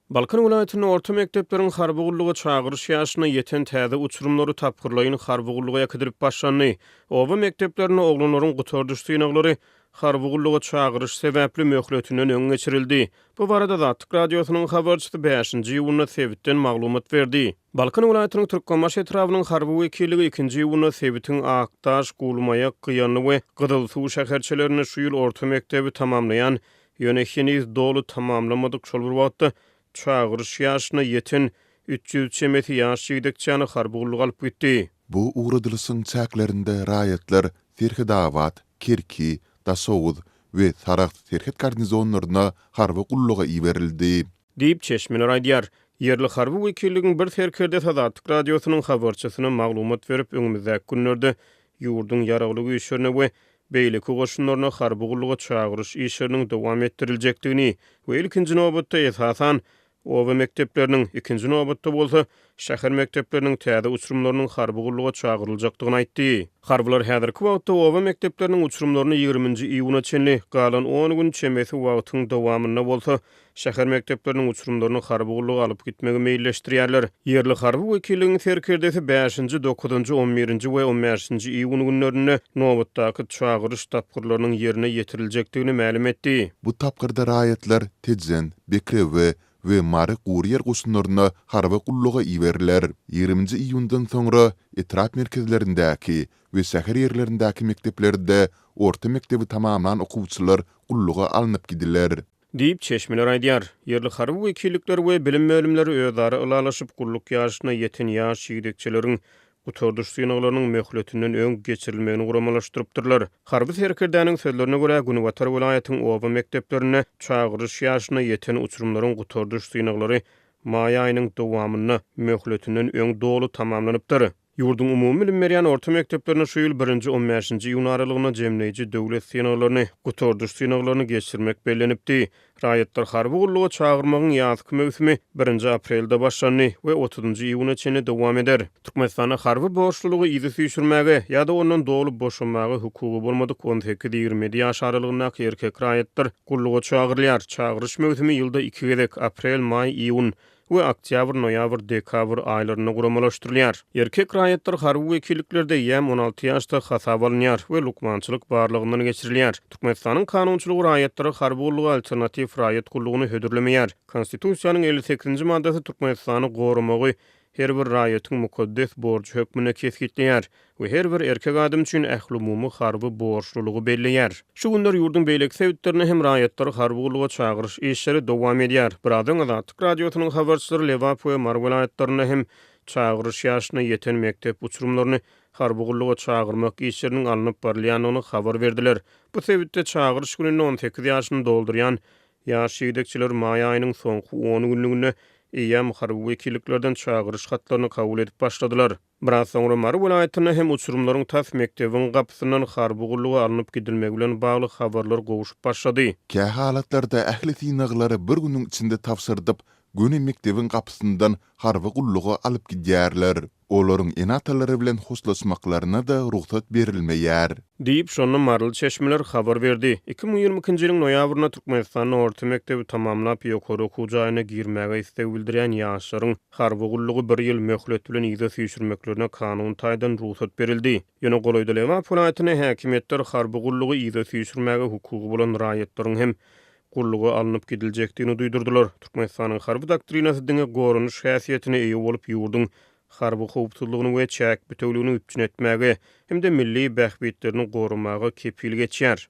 Balkan welaýatynda orta mekdepleriň harby gulluga çagyryş ýaşyna ýeten täze uçurymlary tapgyrlaýyn harby gulluga äkidilip başlandy. Oba mekdeplerinde oglanlaryň gutardyş synaglary harby gulluga çagyryş sebäpli möhletinden öň geçirildi. Bu barada Azatlyk Radiosynyň habarçysy bäşinji iýunda sebitden maglumat berdi. Balkan welaýatynyň Türkmenbaşy etrabynyň harby wekilligi ikinji iýunda sebitiň Akdaş, Gulmaýak, Gyýanly we Gyzylsuw şäherçelerinde şu ýyl orta mekdebi tamamlaýan Ýöne heniz doly tamamlamadyk, şol bir wagtda çagyryş ýaşyna ýeten üç ýüz çemesi ýaş ýigdekçäni harby gulluga alyp gitdi. Bu ugradylyşyň çäklerinde raýatlar Serhedabat, Kerki, Daşoguz we Sarahs serhet garnizonlaryna harby gulluga iberildi. Diýip, çeşmeler aýdýar. Ýerli harby wekilligiň bir serkerdesi Azatlyk Radiosynyň habarçysyna maglumat berip, öňümizdäki günlerde ýurduň Ýaragly Güýçlerine we beýleki goşunlaryna harby gulluga çagyryş işleriniň dowam etdiriljekdigini we ilkinji nobatda, esasan, oba mekdepleriniň, ikinji nobatda bolsa, şäher mekdepleriniň täze uçurymlarynyň harby gulluga çagyryljakdygyny aýtdy. Harbylar häzirki wagtda oba mekdepleriniň uçurymlaryny ýigriminji iýuna çenli, galan on gün çemesi wagtyň dowamynda bolsa, şäher mekdepleriniň uçurymlaryny harby gulluga alyp gitmegi meýilleşdirýärler. Ýerli harby wekilligiň serkerdesi bäşinji, dokuzynjy, on birinji we on bäşinji iýun günlerinde nobatdaky çagyryş tapgyrlarynyň ýerine ýetiriljekdigini mälim etdi. Bu tapgyrda raýatlar Tejen, Bekrewe, we Mary gurýer goşunlaryna harby gulluga iberiler. Ýigriminji iýundan soňra etrap merkezlerindäki we şäher ýerlerindäki mekdeplerde orta mekdebi tamamlan okuwçylar gulluga alnyp gidiler. Diýip, çeşmeler aýdýar. Ýerli harby wekillikler we bilim bölümleri özara ylalaşyp, gulluk ýaşyna ýeten ýaş ýigdekçeleriň gutardyş synaglarynyň möhletinden öň geçirilmegini guramalaşdyrypdyrlar. Harby serkerdäniň sözlerine görä, günbatar welaýatyň oba mekdeplerinde çagyryş ýaşyna ýeten uçurymlaryň gutardyş synaglary maý aýynyň dowamynda möhletinden öň doly tamamlanypdyr. Ýurduň umumy bilim berýän orta mekdeplerinde şu ýyl birinji on bäşinji iýun aralygynda jemleýji döwlet synaglaryny, gutardyş synaglaryny, geçirmek bellenipdi. Raýatlary harby gulluga çagyrmagyň ýazky möwsümi birinji aprelde başlandy we otuzynjy iýuna çenli dowam eder. Türkmenistanda harby borçlulygy yza süýşürmäge ýa-da ondan doly boşamaga hukugy bolmadyk on sekiz-ýigrimi ýedi ýaş aralygyndaky erkek raýatlar gulluga çagyrylýar. Çagyryş möwsümi ýylda iki gezek, aprel, maý, iýun, we oktýabr-noýabr, dekabr aýlarynda guramalaşdyrylýar. Erkek raýatlar harby wekilliklerde ýäm on alty ýaşda hasaba alynýar we lukmançylyk barlagyndan geçirilýär. Türkmenistanyň kanunçylygy raýatlara harby gulluga alternatiw raýat gullugyny hödürlemeýär. Konstitusiýanyň elli sekizinji maddasy Türkmenistany goramagy her bir raýatyň mukaddes borjy hökmünde kesgitleýär. we her bir erkek adam üçin ählumumy harby borçlulygy belleýär. Şu günler ýurduň beýleki sebitlerinde hem raýatlary harby gulluga çagyryş işleri dowam edýär. Birazdan Azatlyk Radiosynyň habarçylary Lebap we Mary welaýatlarynda hem çagyryş ýaşyna ýeten mekdep uçurymlaryny harby gulluga çagyrmak işleriniň alnyp barylýandygyny habar berdiler. Bu sebitde çagyryş gününde on sekiz ýaşyny doldurýan ýaş ýigdekçeler maý aýynyň soňky on günlüginde eýýäm harby wekilliklerden çagyryş hatlaryny kabul edip başladylar. Biraz soňra Mary welaýatynda hem uçurymlaryň tas mekdebiň gapysyndan harby gulluga alnyp gidilmegi bilen bagly habarlar gowuşyp başlady. Kä halatlarda ähli synaglary bir günüň içinde tabşyrdyp, göni mekdebiň gapysyndan harby gulluga alyp gidýärler. Olaryň ene-atalary bilen hoşlaşmaklaryna-da rugsat berilmeýär. Diýip, şonda maryly çeşmeler habar berdi. Iki müň ýigrimi ikinji ýylyň noýabrynda Türkmenistanda orta mekdebi tamamlap, ýokary okuw jaýyna girmäge isleg bildirýän ýaşlaryň, Harby gullugy bir ýyl möhlet bilen yza süýşürmeklerine kanun taýdan rugsat berildi. Ýöne golaýda Lebap welaýatynda häkimiýetler harby gullugy yza süýşürmäge hukugy bolan raýatlaryň hem gulluga alnyp gidiljekdigini duýdurdylar. Türkmenistanyň harby doktrinasy diňe goranyş häsiýetine eýe bolup ýurduň harby howpsuzlygyny we çäk bütewligini üpjün etmäge hem-de milli bähbitlerini goramaga kepil geçýär.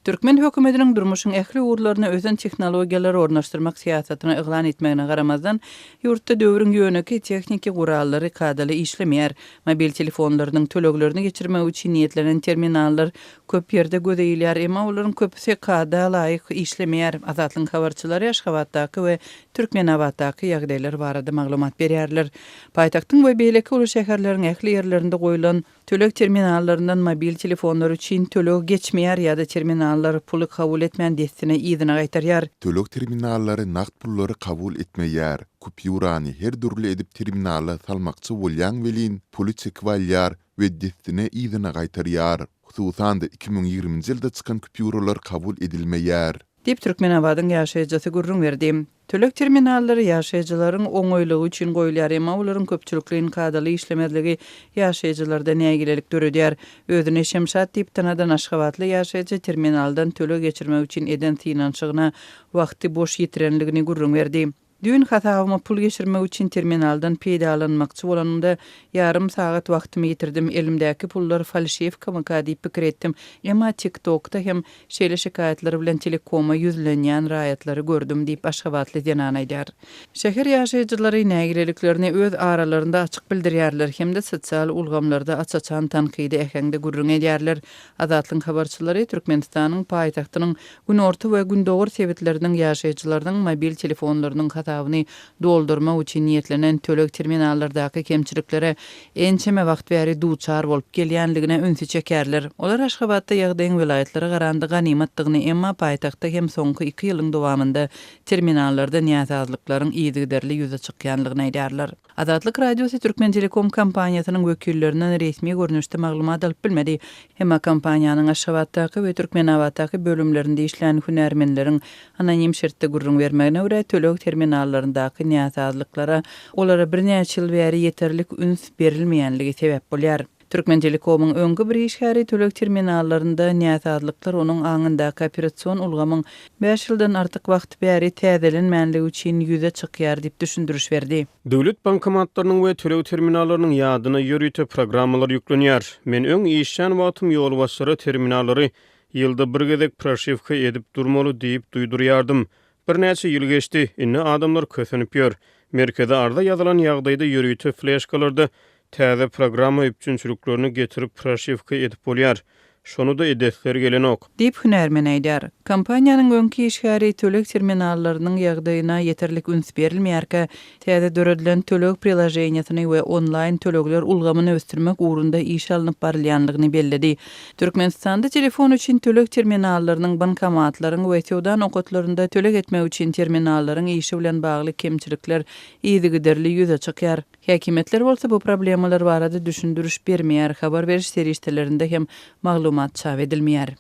Türkmen hökümetiniň durmuşyň ähli ugurlaryna ösen tehnologiýalary ornaşdyrmak syýasatyny yglan etmegine garamazdan, ýurtda döwrüň ýönekeý tehniki gurallary kadaly işlemeýär. Mobil telefonlarynyň töleglerini geçirmek üçin niýetlenen terminallar köp ýerde göze ilýär, emma olaryň köpüsi kada laýyk işlemeýär. Azatlygyň habarçylary Aşgabatdaky we Türkmenabatdaky ýagdaýlar barada maglumat berýärler. Paýtagtyň we beýleki uly şäherleriň ähli ýerlerinde goýlan, Töleg terminallaryndan mobil telefonlar üçin töleg geçmeýär ýa-da terminallar puly kabul etmän dessine yzyna gaýtarýar. Töleg terminallary nagt pullary kabul etmeýär, kupýurany her dürli edip terminala salmakçy bolýaň welin puly çekip alýar we dessine yzyna gaýtarýar. Hususan-da iki müň ýigriminji ýylda çykan kupýuralar kabul edilmeýär. Diýip Türkmenabadyň ýaşaýjysy gürrüň berdi. Töleg terminallary ýaşaýjylaryň oňaýlygy üçin goýulýar, emma olaryň köpçülikleýin kadaly işlemezligi ýaşaýjylarda nägilelik döredýär. Özüni Şemşat diýip tanadan aşgabatly ýaşaýjy terminaldan töleg geçirmek üçin eden synanyşygyna wagty boş ýitirenligini gürrüň berdi. Düýn hasabyma pul geçirmek üçin terminaldan peýdalanmakçy bolanymda, ýarym sagat wagtymy ýitirdim. Elimdäki pullar falşiwkamyka diýip pikir etdim, emma TikTok-da hem Şeýle şikaýatlar bilen telekoma ýüzlenýän raýatlary gördüm diýip, aşgabatly zenan aýdýar. Şäher ýaşaýjylary nägileliklerini öz aralarynda açyk bildirýärler hem-de sosial ulgamlarda aç-açan tankydy äheňde gürrüň edýärler. Azatlygyň habarçylary Türkmenistanyň paýtagtynyň günorta we gündogar sebitleriniň ýaşaýjylarynyň mobil telefonlarynyň hasabyny doldurmak üçin niýetlenen töleg terminallardaky kemçiliklere ençeme wagt bäri duçar bolup gelýänligine ünsi çekerler. Olar Aşgabatda ýagdaýyň welaýatlara garanda ganymatdygyny, emma paýtagtda hem soňky iki ýylyň dowamynda terminallarda näsazlyklaryň yzygiderli ýüze çykýanlygyny aýdýarlar. Azatlyk Radiosy Türkmentelekom kompaniýasynyň wekillerinden resmi görnüşde maglumat alyp bilmedi, emma kompaniýanyň Aşgabatdaky we Türkmenabatdaky bölümlerinde işlän hünärmenleriň Anonim şertde gürrüň bermegine görä, töleg terminallaryndaky näsazlyklara olara birnäçe ýyl bäri ýeterlik üns berilmeýänligi sebäp bolýar. Türkmentelekomyň öňki bir işgäri töleg terminallarynda näsazlyklar onuň aňyndaky operasion ulgamyň bäş ýyldan artyk wagt bäri täzelenmänligi üçin ýüze çykýar diýip düşündiriş berdi. Döwlet bankomatlarynyň we töleg terminallarynyň ýadyna ýörite programmalar ýüklenýär. Men öň işlän wagtym ýolbaşçylara terminallary Ýylda bir gezek proşiwka edip durmaly diýip duýdurýardym. Birnäçe ýyl geçdi, indi adamlar kösenip ýör. Merkeze arza ýazylan ýagdaýda ýörite fleşkalarda täze programma üpjünçiliklerini getirip proşiwka edip bolýar. Şony-da edesleri gelenok. Diýip, hünärmen aýdýar. Kompaniýanyň öňki işgäri töleg terminallarynyň ýagdaýyna ýeterlik üns berilmeýärkä, Täze döredilen töleg prilaženiýesini we onlaýn tölegler ulgamyny ösdürmek ugrunda iş alnyp barylýandygyny belledi. Türkmenistanda telefon üçin töleg terminallarynyň, bankomatlaryň we söwda nokatlarynda töleg etmek üçin terminallaryň işi bilen bagly kemçilikler yzygiderli ýüze çykýar. Häkimiýetler bolsa bu problemalar barada düşündiriş bermeýär, habar beriş serişdelerinde hem maglumat çap edilmeýär.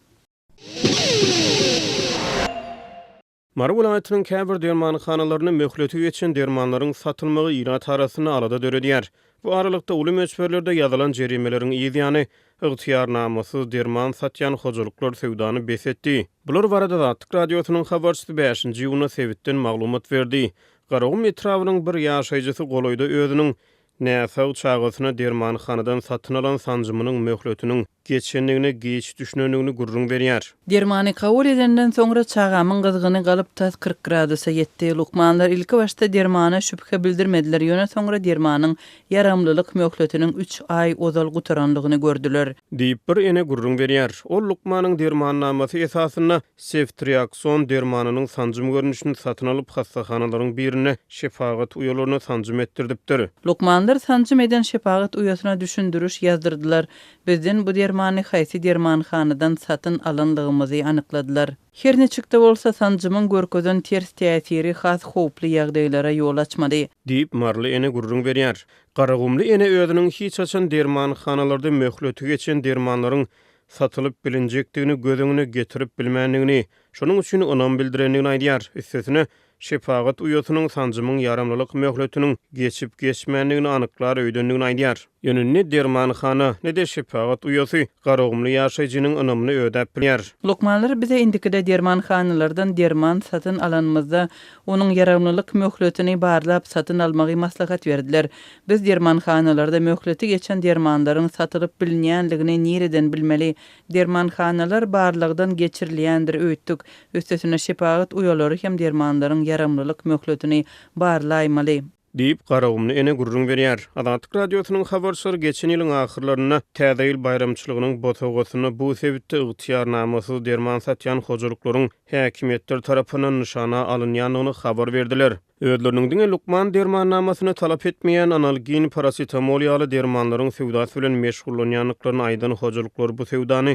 Mary welaýatynyň käbir dermanhanalarynda möhleti geçen dermanlaryň satylmagy ilat arasynda alada döredýär. Bu aralykda, uly möçberlerde ýazylan jerimeleriň yz ýany, ygtyýarnamasyz derman satýan hojalyklar söwdany bes etdi. Bular barada Azatlyk Radiosynyň habarçysy bäşinji iýunda sebitden maglumat berdi. Garagum etrabynyň bir ýaşaýjysy golaýda özüniň Näsag çagasyna dermanhanadan satyn alan sanjymynyň möhletiniň geçendigine giç düşünendigini gürrüň berýär. Dermany kabul edenden soňra çagamyň gyzgyny galyp tas kyrk gradusa ýetdi. Lukmanlar ilki başda dermana şübhe bildirmediler, ýöne soňra dermanyň ýaramlylyk möhletiniň üç aý ozal gutarandygyny gördüler. Diýip bir ene gürrüň berýär. Ol lukmanyň dermannamasy esasynda Seftriakson dermanynyň sanjym görnüşini satyn alyp, hassahanalaryň birinde şepagat uýalaryna sanjym etdirdipdir. Lukmanlar sanjym eden şepagat uýasyna düşündiriş ýazdyrdylar. Bizden bu dermany haýsy dermanhanadan satyn alanlygymyzy anykladylar. Her niçik-de bolsa, sanjymyň görkezen ters täsiri has howply ýagdaýlara ýol açmaly. Diýip, maryly ene gürrüň berýär. Garagumly ene özüniň hiç haçan dermanhanalarda möhleti geçen dermanlaryň satylyp bilinjekdigini göz öňüne getirip bilmändigini, şonuň üçin ynam bildirendigini aýdýar. Üstesine, şepagat uýasynyň sanjymyň ýaramlylyk möhletiniň geçip-geçmändigini anyklar öýdendigini aýdýar. Ýöne ne dermanhana, ne-de şepagat uýasy garagumly ýaşaýjynyň ynamyny ödäp bilýär. Lukmanlar bize indikide dermanhanalardan derman satyn alanymyzda, onuň ýaramlylyk möhletini barlap satyn almagy maslahat berdiler. Biz dermanhanalarda möhleti geçen dermanlaryň satylyp bilinýänligini nireden bilmeli? Dermanhanalar barlagdan geçirilýändir öýtdük. Üstesine şepagat uýalary hem dermanlaryň ýaramlylyk möhletini barlaýmaly. Diýip, Garagumly ene gürrüň berýär. Azatlyk Radiosynyň habarçylary geçen ýylyň ahyrlarynda Täze ýyl baýramçylygynyň bosagasynda bu sebitde ygtyýarnamasyz derman satýan hojalyklaryň häkimiýetler tarapyndan nyşana alynýandygyny habar berdiler. Özleriniň diňe lukman dermannamasyny talap etmeýän analgin, parasetamol ýaly dermanlaryň söwdasy bilen meşgullanýandyklaryny aýdan hojalyklar bu söwdany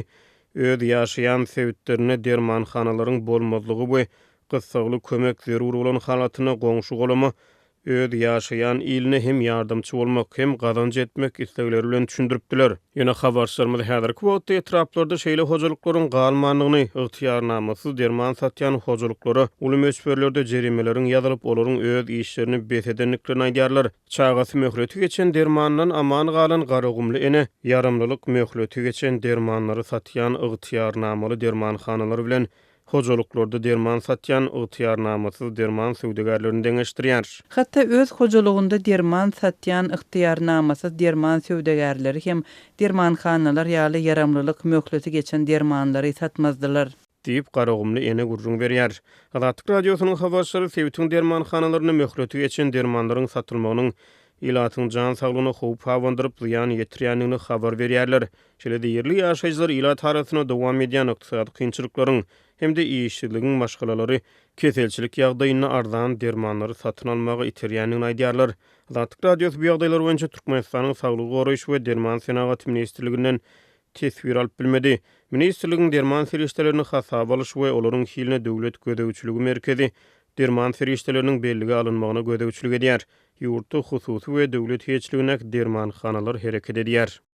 öz ýaşaýan sebitlerinde dermanhanalaryň bolmazlygy we gyssagly kömek zerur bolan halatynda goňşy-golama, öz ýaşaýan iline hem ýardamçy bolmak, hem gazanç etmek islegleri bilen düşündiripdiler. Ýöne habarçylarymyz häzirki wagtda etraplarda şeýle hojalyklaryň galmandygyny, ygtyýarnamasyz derman satýan hojalyklara uly möçberlerde jerimeleriň ýazylyp, olaryň öz işlerini bes edendiklerini aýdýarlar. Çagasy möhleti geçen dermandan aman galan garagumly ene ýaramlylyk möhleti geçen dermanlary satýan ygtyýarnamaly dermanhanalar bilen Hojalyklarda derman satýan ygtyýarnamasyz derman söwdagärlerini deňeşdirýär. Hatda öz hojalygynda derman satýan ygtyýarnamasyz derman söwdagärleri hem dermanhanalar ýaly ýaramlylyk möhleti geçen dermanlary satmazdylar. Diýip, garagumly ene gürrüň berýär. Azatlyk Radiosynyň habarçylary sebitiň dermanhanalarynda möhleti geçen dermanlaryň satylmagynyň ilatyň jan saglygyna howp habandyryp, zyýan ýetirýändigini habar berýärler. Şeýle-de ýerli ýaşaýjylar ilat arasyna dowam edýän ykdysady kynçylyklaryň hem-de işsizligiň maşgalalary keselçilik ýagdaýynda arzan dermanlary satyn almaga iterýändigini aýdýarlar. Azatlyk Radiosy bu ýagdaýlar boýunça Türkmenistanyň Saglygy goraýyş we derman senagaty ministrliginden teswir alyp bilmedi. Ministrligiň derman serişdelerini hasaba alyş we olaryň hiline Döwlet gözegçiligi merkezi derman serişdeleriniň bellige alynmagyna gözegçilik edýär. Ýurtda hususy we döwlet eýeçiligindäki dermanhanalar hereket edýär.